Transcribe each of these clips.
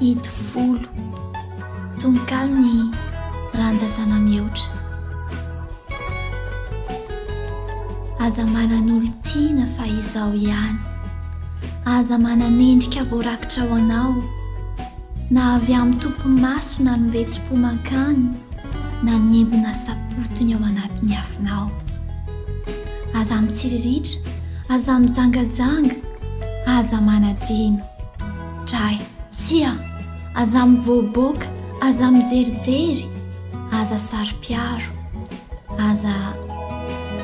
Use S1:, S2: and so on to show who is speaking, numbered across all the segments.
S1: Itovolo, tononkalon'i Randja Zanamihoatra. Aza manan'olon-tiana fa izao ihany, aza manan'endrika voarakitra ho anao. Na avy amin'ny tompo maso na ny vetsom-po mankany na ny embona sapotony ao anatin'ny afonao. Aza mitsiriritra, aza mijangajanga, aza manadino. Dray, tsia, aza mivoaboaka, aza mijerijery, aza saro-piaro, aza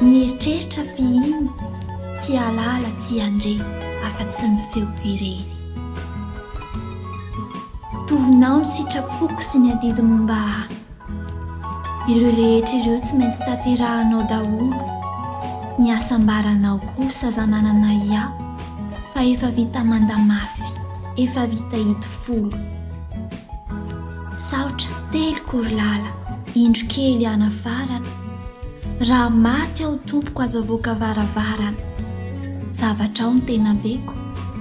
S1: mieritreritra f'iny tsy hialala tsy hiandre afa-tsy ny feoko irery. Tovinao ny sitrapoko sy ny adidy momba ahy. Ireo rehetra ireo tsy maintsy tanterahanao daholo. Ny hasambaranao kosa zananana ia fa efa vita manda mafy, efa vita idy folo. Saotra, telo korilala, indro kely hanafarana. Raha maty aho tompoko aza voaka varavarana. Zavatrao ny tena beko.